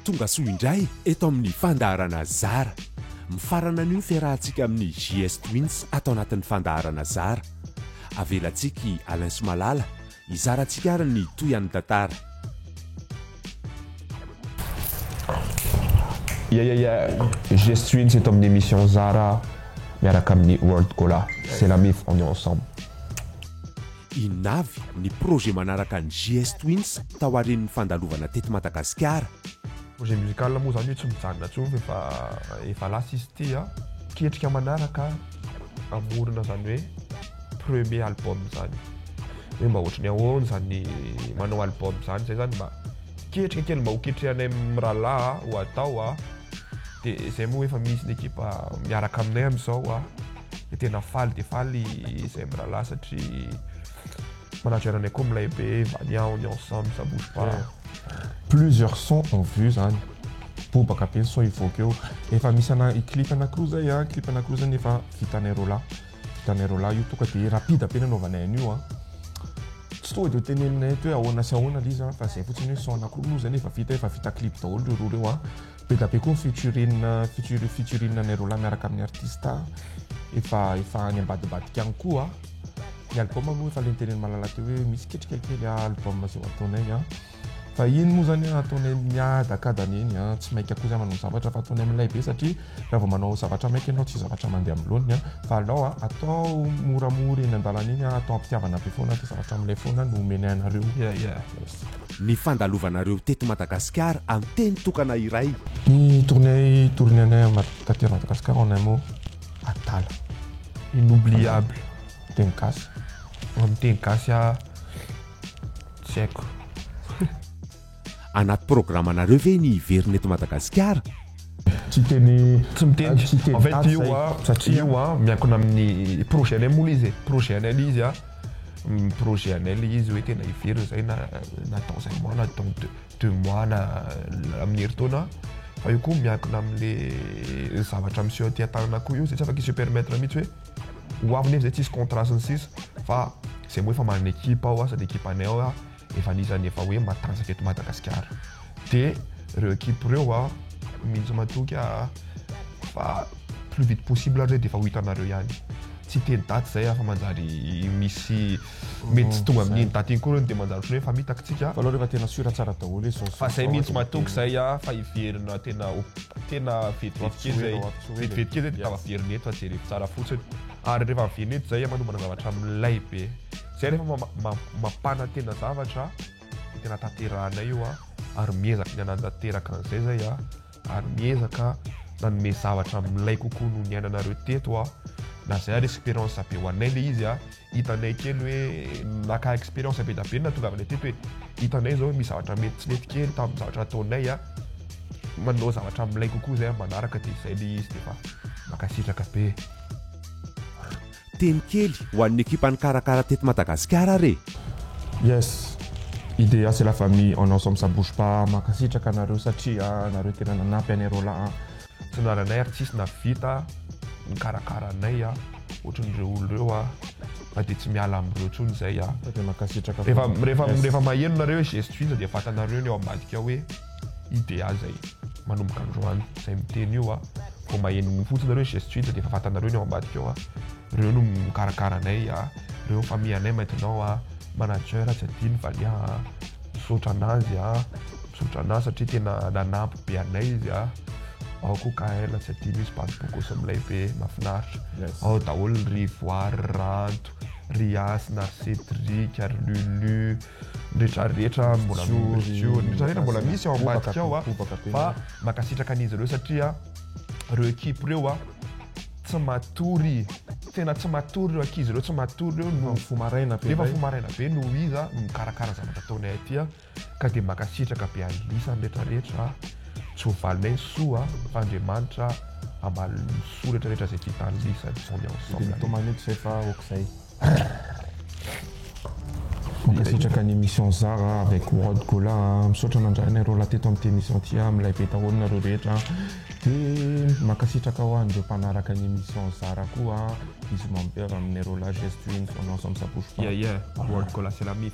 Tongasoa indray eto amin'ny fandaharana Zara. Mifarana anio ny fiarahantsika amin'ny JS Twins ato anatin'ny fandaharana Zara. Avelantsika i Alain sy Malala hizara antsika ary ny tohian'ny tantara. Ya ya ya, JS Twins eto amin'ny émission Zara miaraka amin'ny World Gola. C'est la mif, on est ensemble. Inona avy ny projet manaraka an'i JS Twins taorian'ny fandalovana teto Madagasikara? Projet musical moa zany io tsy mijanona tsony fa efa efa lasa izy ity a. Ketrika manaraka hamorona zany hoe premier album zany. Hoe mba ohatry ny ahoana zany ny manao album zany zay zany mba ketrika kely mba ho ketrehanay mirahalahy ho atao a. De zay moa efa misy ny ekipa miaraka aminay amizao a. de tena faly de faly izay mirahalahy satria manaja ananay koa milay be vania on est ensemble ça bouge pas plusieurs sons en vue zany bobaka be ny son hivoaka eo efa misy ana clip anankiroa zay a clip anankiroa zany efa vitanay roa lahy vitanay roa lahy io toka de rapide be nanaovanay an'io a tsy tonga de ho teneninay eto hoe ahoana sy ahoana lay izy a fa zay fotsiny hoe son anankiroa moa zany efa vita efa vita clip daholo reo roa reo a Be da be koa ny featuring featuring featuring anay roalahy miaraka amin'ny artista efa efa any ambadibadika any koa ny album aloha efa lenteren'i Malala teo hoe misy ketrika kely album izay ho ataonay an fa iny moa zany an ataonay miadakadana eny an tsy maika koa zany manao zavatra fa ataonay milay be satria raha vao manao zavatra maika ianao tsy zavatra mandeha amin'ny laoniny an fa alao an atao moramora eny an-dalana eny an atao am-pitiavana be foana dia zavatra milay foana no omenay anareo yeah yeah ny fandalovanareo teto Madagasikara amin'ny teny tokana iray. Ny tournée tournée anay am taty Madagascar en un mot adala. Inoubliable teny gasy amin'ny teny gasy ah tsy haiko. Anaty programanareo ve ny hiverina eto Madagasikara? Tsy teny Tsy miteny, en fait io an, io an miankina amin'ny projet-nay moa ilay izy e, projet-nay ilay izy an. Ny projet anay ilay izy hoe tena hiverina izay na na dans un mois na dans deux deux mois na amin'ny herintaona fa io koa miankina amin'ilay zavatra miseho aty an-tanana koa io izay tsy afaka hi-se permettre mihitsy hoe ho avy nefa izay tsisy contrat sy ny sisa fa izay moa efa manana équipe ao asa ny équipe anay ao efa anisan'ny efa hoe matanjaka eto Madagasikara dia ireo ekipa ireo a mihitsy matoky a fa plus vite possible ary dia efa ho hitanareo ihany tsy hiteny daty izay afa manjary misy mety tsy tonga amin'iny daty iny koa ireo dia manjary ohatran'ny hoe efa mitaky tsika fa rehefa tena sûr tsara daholo izy fa izay mihitsy matoky izay a fa hiverina tena tena vetivety kely izay vetivety kely izay dia tava-piverina eto fa jerevy tsara fotsiny ary rehefa miverina eto izay a manomboka zavatra milay be Zay anefa mampanantena zavatra dia tena tanterahanay io a ary miezaka ny hanatanteraka an'izay zay a ary miezaka nanome zavatra milay kokoa noho ny ainanareo teto a na zay ary expérience be ho anay le izy a hitanay kely hoe naka expérience be da be na tongavanay teto hoe hitanay zao misy zavatra mety tsy nety kely tamin'ny zavatra ataonay a manao zavatra milay kokoa zay manaraka dia zay le izy dia efa mankasitraka be Teny kely ho an'ny ekipa nikarakara teto Madagasikara ary e! Yes! Idea c'est la famille on ensemble ça bouge pas Mankasitraka anareo satria nareo tena nanampy anay roa lahy a! Tsinananay ary tsisy nahavita nikarakara anay a! Ohatran'ny ireo olona ireo a! Na dia tsy miala amin'ireo intsony izay a! Rehefa maheno nareo hoe Gestionsa dia fantanareo ny ao ambadika hoe. UDA zay manomboka androany zay miteny io a vao maheno ny fotsiny nareo geste hita dia efa fatanareo ny ao ambadika ao a reo no mikarakara anay a reo famille anay maintenant a manager tsy adino valiha a misaotra anazy a misaotra anazy satria tena nanampy be anay izy a ao koa kaela tsy adino izy bado bokosa milay be mafinaritra ao daholo ry voary ranto ry asina ry cedric ary lulu rehetra rehetra mbola rehetra rehetra mbola misy ao ambadika ao a fa mankasitraka an'izy ireo satria ireo ekipe ireo a tsy matory tena tsy matory ireo ankizy ireo tsy matory ireo no fo maraina be rehefa fo maraina be no iza mikarakara zavatra ataonay aty a ka dia mankasitraka be an'isany rehetra rehetra tsy ho valinay soa fa Andriamanitra hamaly ny soa rehetra rehetra izay vitan'ny isany on est ensemble. Dia mitomany eto izay fa aok'izay. Mankasitraka ny emission Zara avec World Gola a! Misaotra nandrahona ireo lahy teto amin'ity emission ity a! Milay be daholo nareo rehetra a! De mankasitraka ho an'ireo mpanaraka ny emission Zara koa a! Bisous mamy be avy amin'ireo lahy Gesto Ins on ensemble ça bouge pas! Yeah yeah! World Gola c'est la mif!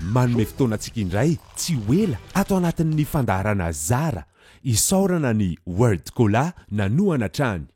Manome fotoana antsika indray tsy ho ela ato anatin'ny fandaharana Zara isaorana an'i World Gola nanohana hatrany.